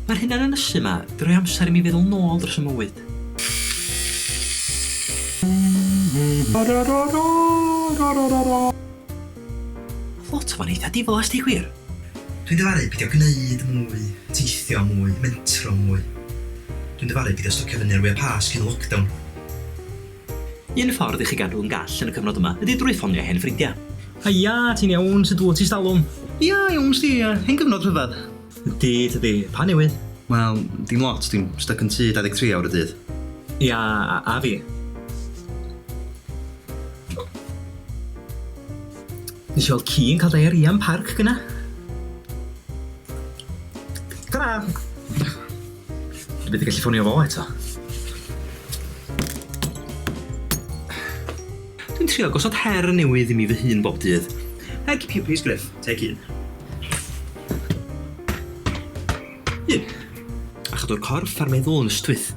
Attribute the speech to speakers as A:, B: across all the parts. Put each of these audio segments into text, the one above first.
A: Mae'r hunanynysu yma yn rhoi amser i mi feddwl nôl dros fy mywyd. Oedd lot o fo'n eitha diflas deu gwir. Dwi'n dyfaru
B: pidio gneud mwy, teithio mwy, mentro mwy. Dwi'n dyfaru pidio stocio fyny ar wya Pasg cyn y lockdown.
A: Un ffordd i chi gadw yn gall yn y cyfnod yma ydi drwy ffonio hen ffrindia. Haia, ti'n
C: iawn? Sut wyt ti stalwm? Ia, iawn sdi,
A: ia. Hen gyfnod rhyfedd. Ydi, tydi.
C: Pa newydd? Wel, dim
B: lot, dwi'n styc yn tŷ 23 awr y dydd. Ia, a,
C: a fi. Nes i weld ci yn cael diarrhea yn parc gyna. Ta-ra! Dwi byth yn gallu ffonio fo eto.
A: Dwi'n trio gosod her newydd i mi fy hun bob dydd. Her cipio pris Griff, teg un. Un. A chadw'r corff a'r meddwl yn ystwyth.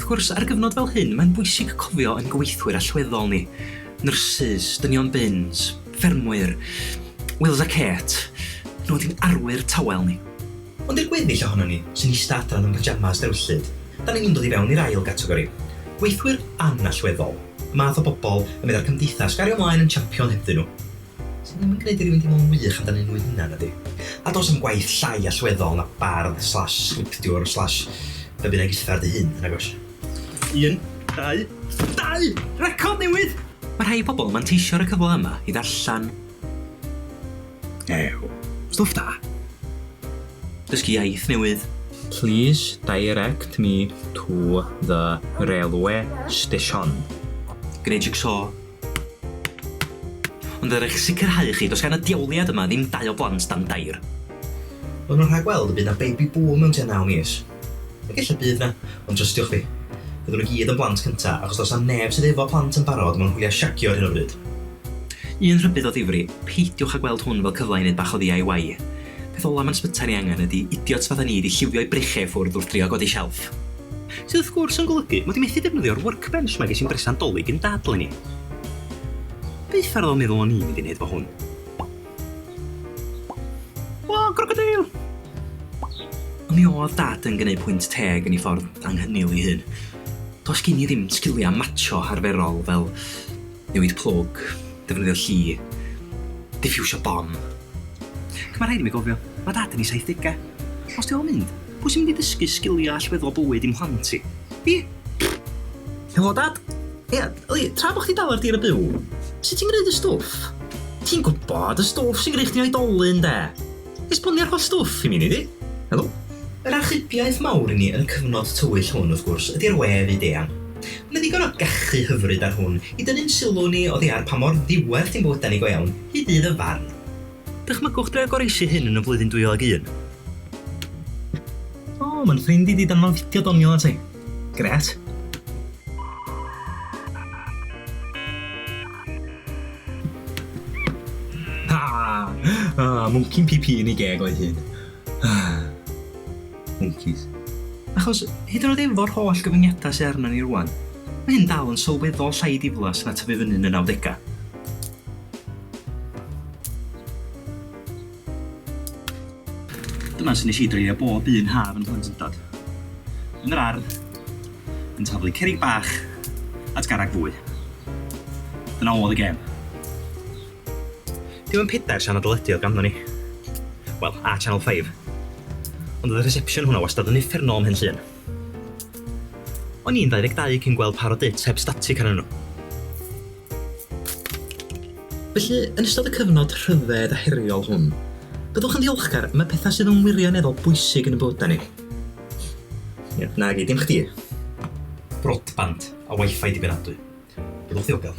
A: Wrth gwrs, ar gyfnod fel hyn, mae'n bwysig cofio ein gweithwyr allweddol ni. Nyrsys, dynion bins, Ffermwyr. Wills a Kate. Roedd hi'n arwyr tawel ni. Ond i'r gweddill
B: ohonon ni sy'n ista adran yn pyjamas drewllyd, dan ni'n undod i fewn i'r ail gategori, gweithwyr anallweddol, y math o bobl y meddai'r cymdeithas gario mlaen yn champion hebddyn nhw, sydd ddim yn gwneud i rywun deimlo'n wych amdanyn nhw eu hunain, nadi? A does dim gwaith llai allweddol na bardd slash sgriptiwr slash be bynnag is fer dy hun, nag oes? Un,
A: dau, dau! Record newydd! Mae rhai pobl yn manteisio ar y cyfle yma i ddarllen. Ew.
B: Stwff da.
A: Dysgu iaith newydd. Please
C: direct me to the railway station. Gwneud
A: jig-so. Ond er eich sicrhau i chi, does gan y diawliad yma ddim dau o blant dan dair. Maen nhw'n
B: rhagweld y bydd 'na baby boom mewn tua naw mis. Ac ella bydd 'na, ond trystiwch fi, fyddwn nhw gyd yn blant cynta, achos does 'na neb sydd efo plant yn barod mewn hwyliau shagio ar hyn o bryd. Un
A: rhybudd o ddifri, peidiwch â gweld hwn fel cyfle i wneud bach o ddiy. Peth ola ma'n sbytai ni angen ydi idiots fatha ni 'di lliwio'i brechiau i ffwrdd wrth drio godi shelf. Sydd wrth gwrs yn golygu mod i methu defnyddio'r workbench 'ma ges i'n bresant 'Dolig yn Dad 'leni. Byth ar ôl meddwl o'n i'n mynd i 'neud fo hwn. O, crocodeil! Mi oedd Dad yn gwneud pwynt teg yn ei ffordd anghynil ei hun. Does gen i ddim sgiliau matsio arferol fel newid plwg, defnyddio lli, diffiwsio bom. Ac mae rhaid i mi gofio, mae Dad yn ei saithdegau. Os ti fel mynd, Pwy sy'n mynd i ddysgu sgiliau allweddol bywyd i'm mhlant i? Fi! Pfft!
C: Helo Dad! Ia, yli, tra bo chdi dal ar dir y byw, sut ti'n gneud y stwff? Ti'n gwybod, y stwff sy'n gneud chdi'n oedolyn, 'de? Esbonio'r holl stwff i mi, nei di? Helo? Yr achubiaeth
B: mawr i ni yn y cyfnod tywyll hwn, wrth gwrs, ydi'r we fyd-eang. Mae ddigon o gachu hyfryd ar hwn i dynnu'n sylw ni oddi ar pa mor ddiwerth i'n bywydau ni go iawn, hyd ddydd y farn. Dychmygwch
A: drio goroesi'ch hun yn y flwyddyn 2001. O,
C: mae'n ffrind i di danfon fideo doniol ata i. Gret. Ah, mwnci'n PP yn ei geg o'i hun. Ah. Mwncis. Achos,
A: hyd yn oed efo'r holl gyfyngiadau sydd arnon ni rŵan, mae hyn dal yn sylweddol llai diflas na tyfu fyny yn y nawdegau. Dyna sut nes i dreulio bob un haf yn Nhlantyndod. Yn yr ardd, yn taflu cerrig bach at garreg fwy. Dyna oedd y gêm. Dim yn pedair sianel deledu oedd ganddo ni. Wel, a Channel 5. Ond oedd y reception hwnna wastad yn uffernol am hyn llun. O'n i'n 22 cyn gweld par o dits heb static arnyn nhw.
C: Felly, yn ystod y cyfnod rhyfedd a heriol hwn, byddwch yn ddiolchgar, mae pethau sydd yn wirioneddol bwysig yn y bywydau ni. Ie, nagi, dim chdi. Broadband
B: a wifi dibynadwy. Byddwch ddiogel.